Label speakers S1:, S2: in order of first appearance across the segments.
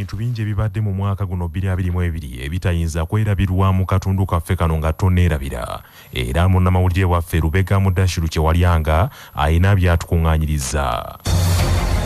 S1: ebintu bingi ebibadde mu mwaka guno biri abiri mu ebiri ebitayinza kwerabirwa mu katundu kaffe kano nga toneerabira era munnamawulire waffe lubega mudashiru kyewalyanga Alina by'atukuŋŋaanyirizza.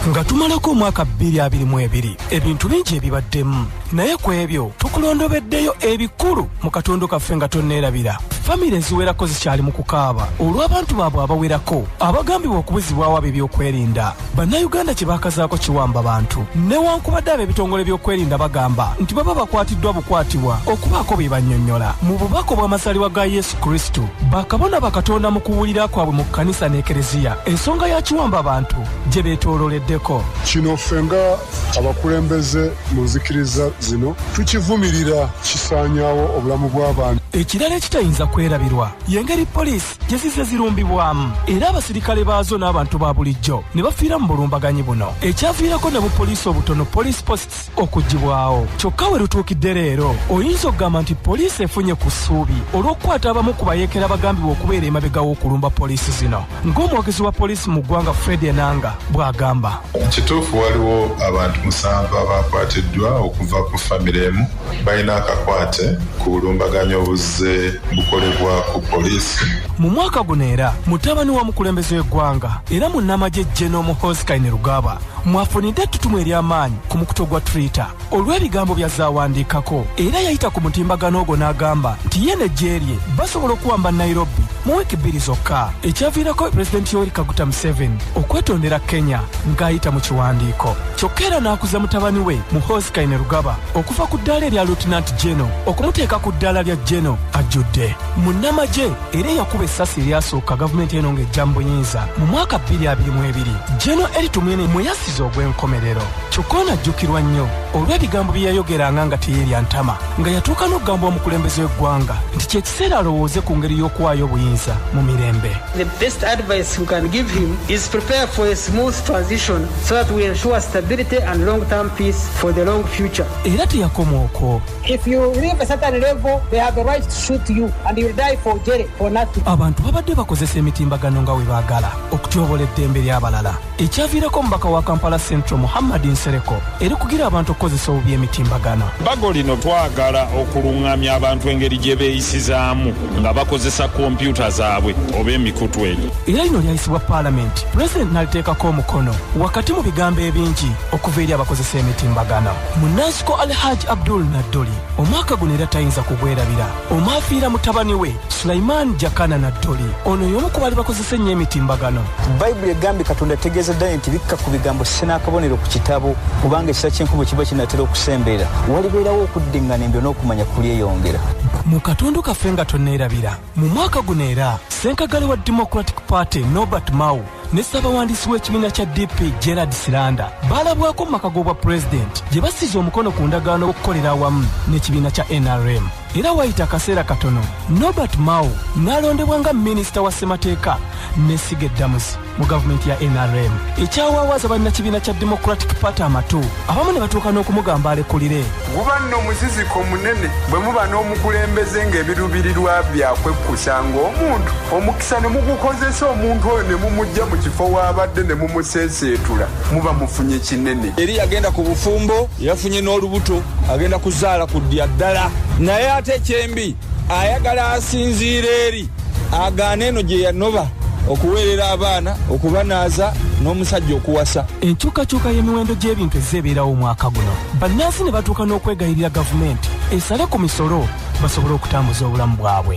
S2: Nga tumalako omwaka bbiri abiri mu ebiri, ebintu bingi ebibaddemu. Naye ku ebyo tukulondobeddeyo ebikulu mu katondo kaffe nga tonneerabira. Famire eziwerako zikyali mu kukaaba olw'abantu baabwe abawerako abagambibwa okubuzibwawo ab'ebyokwerinda. Bannayuganda kye baakazaako kiwamba bantu newankubadde ab'ebitongole by'okwerinda bagamba nti baba bakwatiddwa bukwatibwa okubaako bye bannyonnyola. Mu bubaka obw'amazaalibwa ga Yesu, Kristo. Bakabona bakatonda mu kuwulira kwabwe mu kkanisa n'ekereziya ensonga ya kiwamba bantu gye beetoololeddeko. Kino ffe nga
S3: abakulembeze mu nzikiriza zino tukivumirira kisaanyaawo obulamu bw'abantu. Ekirala ekitayinza
S2: kwerabirwa y'engeri poliisi gye zizze zirumbibwamu era abasirikale baazo n'abantu ba bulijjo ne bafiira mu bulumbaganyi buno ekyaviirako ne bupoliisi obutono, police posts, okugibwawo kyokka we lutuukidde leero oyinza okugamba nti poliisi efunye ku ssuubi olw'okukwata abamu ku bayeekera abagambibwa okubeera emabega w'okulumba poliisi zino ng'omwogezi wa poliisi mu ggwanga fred enanga bw'agamba kituufu waliwo
S4: abantu musanvu abaakwatiddwa okuva ku famire emu balina akakwate ku bulumbaganyi obuzze bukolebwa ku poliisi mu mwaka guno
S2: era mutabani wa mukulembeze w'eggwanga era munnamagye jeno muhoozi kaine rugaba mwafunidde ettutumu ery'amaanyi ku mukuto gwa twitter olw'ebigambo bya zaawandiikako era yayita ku mutimbagano ogwo n'agamba nti ye n'eggye lye basobola okuwamba nairobi mu wiiki bbiri zokka ekyaviirako pulezidenti yoweri kaguta museveni okwetondera kenya ng'ayita mu kiwandiiko kyokka era n'akuza mutabani we muhoozi kainerugaba okuva ku ddaala erya lutinanti geno okumuteeka ku ddaala lya geno ajjudde munnamagye era eyakuba essasi eryasooka gavumenti eno ng'ejja mu buyinza mu mwaka 2022 geno eritumwene mwe yasiza ogw'enkomerero kyokka ono ajjukirwa nnyo olw'ebigambo bye yayogeranga nga teyeerya ntama nga yatuuka n'okugamba omukulembeze w'eggwanga nti ky'ekiseera alowooze ku ngeri y'okuwaayo obuyinza mu mirembe The best advice
S5: we can give him is prepare for a smooth transition so that we ensure stability and long-term peace for the long future. era teyakoma
S2: okwo If you leave a
S5: certain level, they have the right to shoot you and you'll die for jail for nothing. abantu babadde bakozesa
S2: emitimbagano nga we baagala okutyobola eddembe ly'abalala ekyaviirako omubaka wa kampala central muhammad nsereko eri kugira abantu okukozesa obubi emitimbagano bbago lino
S6: twagala okuluŋŋamya abantu engeri gye beeyisizaamu nga bakozesa kompyuta zaabwe oba emikutu egyo era lino lyayisibwa
S2: paalamenti pulezidenti n'aliteekako omukono wakati mu bigambo ebingi okuva eri abakozesa emitimbagano munansiko alhaji abdul nadduli omwaka guno era tayinza kugwerabira omwafiira mutabani we sulaiman jakana nadduli ono y'omu ku baali bakozesa ennyo emitimbagano bayibuli egambye
S7: katonda ategeeza ddala nti bikka ku bigambo sinaakabonero ku kitabo kubanga ekisa ky'enkubo kiba kinatera okusembeera walibeerawo okuddiŋŋana embyo n'okumanya kulyeyongera mu katundu
S2: kaffe nga tonneerabira mu mwaka guno era senkagale wa democratic party nobert mau ne ssabawandiisi w'ekibiina kya DP Gerard Siranda baalabwako mu maka g'obwa pulezidenti gye bassiza omukono ku ndagaano okukolera awamu n'ekibiina kya NRM era wayita akaseera katono Norbert Mao n'alondebwa nga minisita wa ssemateeka n'essiga eddamuzi mu gavumenti ya NRM ekyawaawaza bannakibiina kya Democratic Party amatu abamu ne batuuka n'okumugamba alekulire guba nno
S8: muziziko munene bwe muba n'omukulembeze ng'ebiruubirirwa byakwekkusa ng'omuntu Sa ne mugukozesa omuntu oyo ne mumujja mu kifo w'abadde ne mumuseeseetula muba mufunye kinene. Eri yagenda ku
S9: bufumbo yafunye n'olubuto agenda kuzaala ku ddya ddala naye ate kyembi ayagala asinziira eri agaana eno gye yanoba okuweerera abaana okubanaaza n'omusajja okuwasa enkyukakyuka y'emiwendo
S2: gy'ebintu ezze ebeerawo omwaka guno bannansi ne batuuka n'okwegayirira gavumenti esale ku misolo basobole okutambuza obulamu bwabwe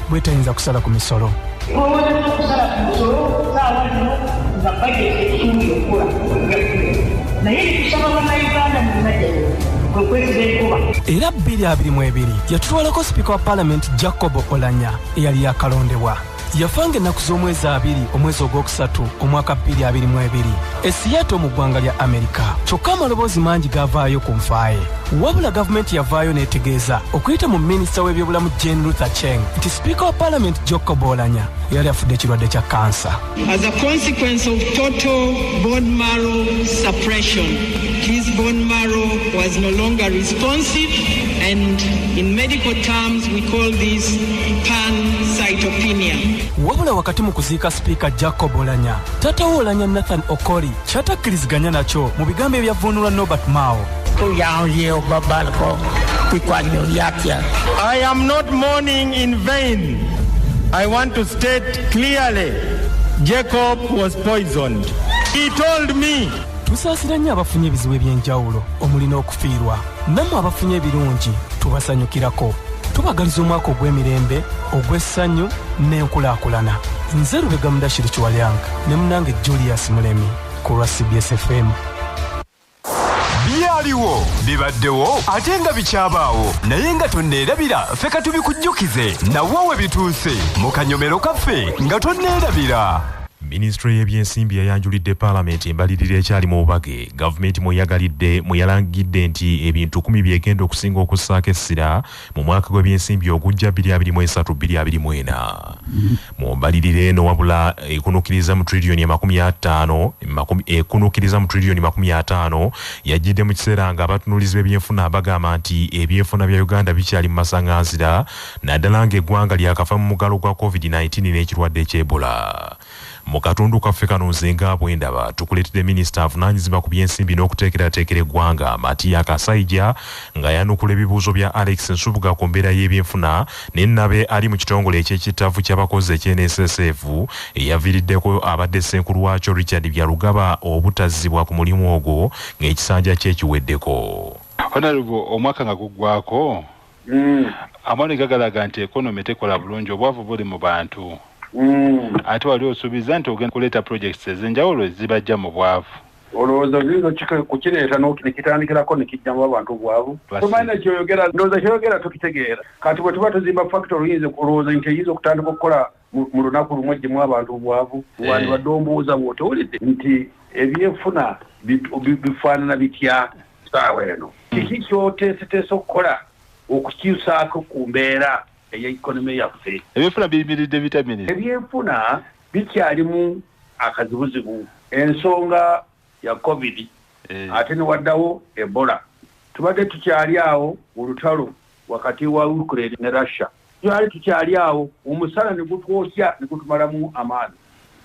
S2: bwetayinza kusala ku misolo. Bw'owolereza okusala ku musolo ssaawa zino nga bajeti esuubira okukola okujakulira naye ekikusaba Bannayuganda mu Najjayo kwe kwesiba enkuba. Era bbiri abiri mu ebiri yatutwalako sipiika wa Palamenti Jacob Olanya eyali yakalondebwa. Yafa ng'ennaku z'omwezi abiri omwezi ogwokusatu omwaka bbiri abiri mu ebiri. e Seattle mu ggwanga lya Amerika. Kyokka amaloboozi mangi gaavaayo ku nfa ye. Wabula gavumenti yavaayo n'etegeeza okuyita mu minisita w'ebyobulamu Jane Luther Cheng nti sipiika wa palamenti Jocko Bolanya yali afudde ekirwadde kya kansa. As a consequence
S10: of total bone marrow suppression, his bone marrow was no longer responsive and in medical terms we call this pancytopenia. Wabula
S2: wakati mu kuziika sipiika Jacko Bolanya Taata wo Olanya Nathan Okori kyatakkiriziganya nakyo mu bigambo ebyavvuunulwa Norbert Mao. Tuyanzye obabalko bikwanye
S11: byatya. I am not mourning in vain. I want to state clearly Jacob was poisoned. He told me. Tusaasira nnyo
S2: abafunye ebizibu eby'enjawulo omuli n'okufiirwa. nammwe abafunye ebirungi tubasanyukirako tubagaliza omwaka ogw'emirembe ogw'essanyu n'enkulaakulana nze lubega mudashiri kiwalyanka ne munange julius mulemi ku lwa cbs fm byaliwo
S12: bibaddewo ate nga bikyabaawo naye nga tonneerabira ffe ka tubikujjukize nawo we bituuse mu kanyomero kaffe nga tonneerabira minisitule
S1: y'ebyensimbi yayanjulidde paalamenti embalirira ekyali mu bubage gavumenti mweyagalidde mwe yalangidde nti ebintu kumi byegenda okusinga okussaako essira mu mwaka gw'ebyensimbi ogujja 2023-2024 mu mbalirira eno wabula ekunukiriza mu triliyoni amakumi ataano ekunukiriza mu triliyoni makumi ataano yajjidde mu kiseera nga abatunulizi b'ebyenfuna bagamba nti ebyenfuna bya uganda bikyali mu masaŋanzira naddala ng'eggwanga lyakafa mu mugalo gwa covid-19 n'ekirwadde eky'ebola Mu katundu kaffe kano nze nga bwe ndaba tukuleetedde minisita avunaanyizibwa ku by'ensimbi n'okuteekerateekera eggwanga Matia Kasaija ng'ayanukula ebibuuzo bya Alex Nsubuga ku mbeera y'ebyenfuna ne Nabe ali mu kitongole eky'ekittavvu ky'abakozi ekye NSSF eyaviiriddeko abadde ssenkulu waakyo Richard Byarugaba obutazzibwa ku mulimu ogwo ng'ekisanja kye kiweddeko. Honourable
S13: omwaka nga guggwako mm. amawulire gagalaga nti economy tekola bulungi obwavu buli mu bantu mm. ate wali osuubiza nti ogenda kuleeta projects ezenjawulo ezibajja mu bwavu olowooza oyinza
S14: kukireeta nekitandikirako nekijjamu abantu obwavu tomanyi nekyoyogera ndowooza kyoyogera tukitegeera kati bwe tuba tuzimba factory oyinza olowooza nti eyinza okutandika okukola mu lunaku lumu ejjemu abantu obwavu eh. wandibadde ombuuza bwotowulidde nti ebyenfuna bifaanana bitya saawa eno hmm. kiki kyoteeseteesa okukola okukyusaako ku mbeera eya ekonome yaffe ebyenfuna biyimiridde
S13: bitamini ebyenfuna
S14: bikyalimu akazibuzibu ensonga ya covid ate newaddawo Ebola. Tubadde tukyali awo mu lutalo wakati wa Ukraine ne Russia. Twali tukyali awo omusana ne gutwokya ne gutumalamu amaanyi.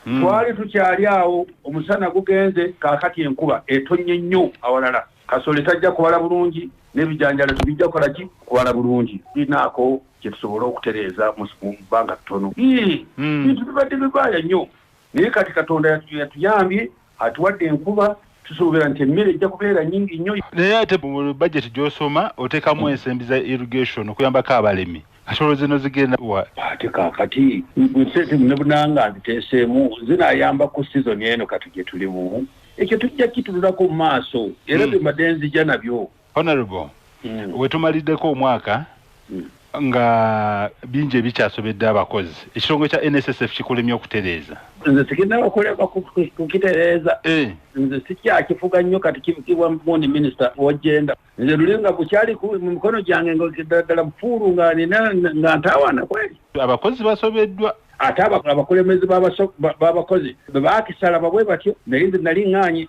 S14: Twali tukyali awo omusana gugenze kaakati enkuba etonnye nnyo awalala. Kasole tajja kubala bulungi n'ebijanjaalo tebijja kukola ki? Kubala bulungi. Tulinaako kye tusobola okutereeza mu bbanga ttono? Yii, ebintu bibadde bibaaya nnyo. naye kati katonda yatuyambye atuwadde enkuba tusuubira nti emmere ejja kubeera nyingi nnyo naye ate mu
S13: bajeti gyosoma otekamu ensembi za irrigation okuyambako abalimi kasolo zino zigenda wa ate kakati
S14: nsente nebunanga nziteeseemu zinayamba ku season eno kati gyetulimu ekyo tujja kitululako mu maaso era mm. bye mbadde nzija nabyo Honorable,
S13: mm. wetumalideko omwaka mm. nga bingi ebikyasobedde abakozi ekitongole kya nssf kikulemye okutereeza nze sigenda
S14: bakulema kukitereeza eh. nze sikyakifuga nnyo kati kibukibwa mundi minisita wajenda nze luli nga kukyali mu mikono gyange ngaddala bufuulu nga nina nga ntaawaana kweri abakozi basobeddwa
S13: ate
S14: abakulemezi b'abakozi bebaakisala babwe batyo naye nze nali ŋŋaanyi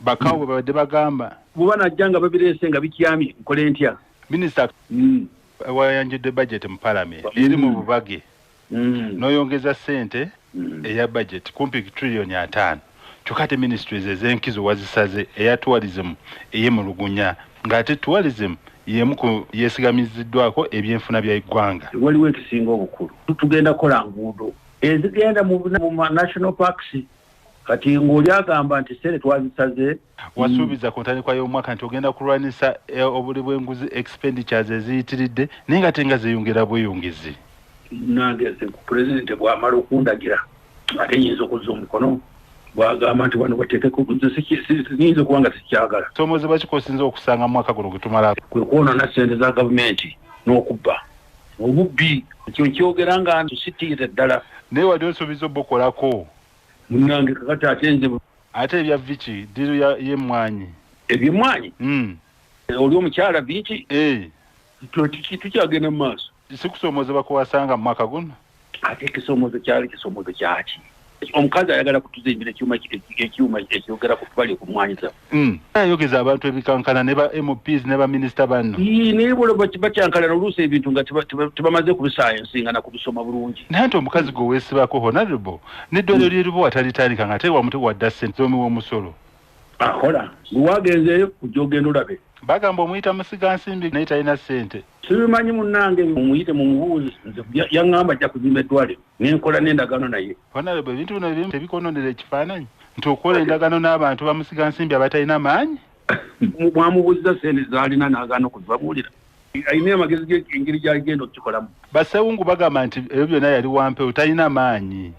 S13: Bakawo bwe babadde bagamba. Bwe banajja nga
S14: babireese nga bikyamye nkole ntya? Minisita
S13: mm. wayanjudde bajeti mu palamenti mm. eri mu bubage mm. n'oyongeza ssente mm. eya bajeti kumpi triliyoni ataano kyokka ate ministries ez'enkizo wazisaze eya tourism eye mu lugunya ng'ate tourism yemu ku yeesigamiziddwako ebyenfuna bya eggwanga waliwo ekisinga
S14: obukulu tugenda kola nguudo ezigenda mu national parks kati ng'oli agamba nti sente twazisaze wasuubiza ku
S13: ntandikwa y'omwaka nti ogenda kulwanyisa eh, obuli bw'enguzi expenditures eziyitiridde naye nga tenga zeyongera bweyongezi nange
S14: ku pulezidenti bw'amala okundagira ate nyinza okuzza omukono bwagamba nti wano bateekeko nyinza okuba nga sikyagala somoze bakikosinza
S13: okusanga mu mwaka guno gwetumala kwe kwonona sente
S14: za gavumenti n'okubba obubbi ekyo nkyogera nga ntusitiire ddala naye wali osuubiza
S13: obukolako Munange
S14: kakati ate nze ate ebya Vicky
S13: diru ya ye mwanyi ebye mwanyi
S14: mm oli omukyala Vicky eh to tiki tukyagenda mu maaso sikusomoza bakuwasanga
S13: mu mwaka guno ate kisomoza
S14: kyali kisomoza kyaki omukazi ayagala kutuza embira ekyuma ekyuma ekyogera ku bali okumwanyiza Mm. ayogeza
S13: abantu ebikankana ne ba mps ne baminisita banno naye
S14: bakyankalana oluusi ebintu nga tebamaze kubisayansi nga nakubisoma bulungi naye nti omukazi gwe
S13: weesibako honarable neddwaliro mm. lyeribo watalitandika nga tewamute wadda sente zomiwa omusolo ahola
S14: ah, lwagenzeeyo kujja ogenda olabe bagamba omuyita musiga
S13: nsimbi naye talina sente sibimanyi munange
S14: mumuyite mumubuuzi nze yaŋŋamba ajja kuzimba eddwaliro nenkola n'endagaano naye honarebo ebintu bino ebimu
S13: tebikononera ekifaananyi nti okukola endagaano n'abantu bamusiga nsimbi abatalina maanyi mwamubuuziza
S14: sente zaalina n'agaana okuzibabuulira alina amagezi ge engeri gy'agenda okukikolamu basewungu bagamba
S13: nti ebyo byonna yali wampewo talina maanyi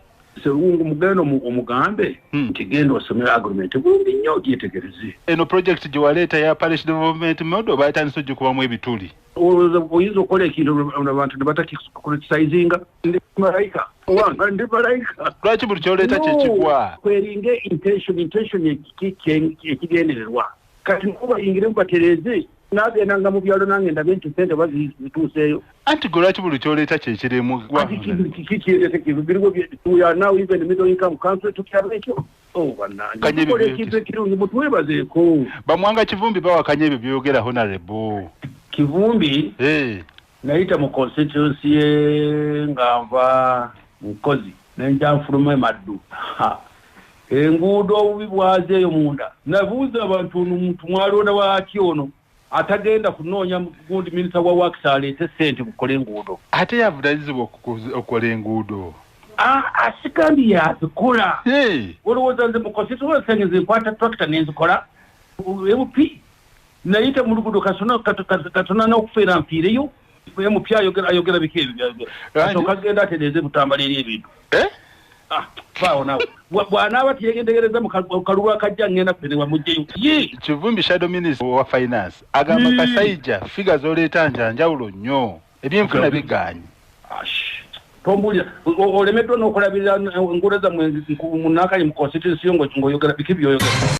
S13: Sewungu mugendo
S14: omugambe hmm. nti genda osome agreement bulungi nnyo gyetegereze. Eno project gye
S13: waleeta ya parish development model baatandise ogikubamu ebituli. Olowooza oyinza okukola
S14: ekintu abantu ne batakicritisizinga ndi malayika owange ndi malayika. Lwaki buli kyoleeta kye
S13: kigwa? Kweringa intention
S14: intention ekigendererwa. kati nabo bayingire mubatereeze nagendanga mu byalo nange ndabe nti sente oba zituuseeyo anti gwe lwaki buli
S13: kyoleeta
S14: kyekirimu bamwanga kivumbi
S13: bawakanya ebyo byoyogera honarebo kivumbi
S14: Nayita mu constituency ye nga nva Nkozi nenja nfuluma emaddu enguudo obubi bwaze eyo munda nabuuza abantu ono muntu mwalonda waki ono atagenda kunoonya gundi minisita wa wakisi aleete sente mukola enguudo ate yavunanyizibwa
S13: okukola enguudo asikandi
S14: yazikola olowooza nze mukosituwense nge nze nkwata tractor nenzikola ebupi Nayita mu luguudo kasona katona n'okufeera mpiireyo naye mupya ayogera ayogera biki ebyo byayogera asooka agenda atereeze butambala eri ebintu eh? ah, baawo nawe bwanaaba teyegendegereza mu kalulu akajja ngenda kuterewa mujjeyo kivumbi shadow
S13: minister wa finance agamba kasaija figa zoleeta njanjawulo nnyo ebyenfuna bigaanyi
S14: tombulira olemeddwa n'okulabirira enguudo zammwe munaakali mu constituensi yo ng'oyogera biki byoyogera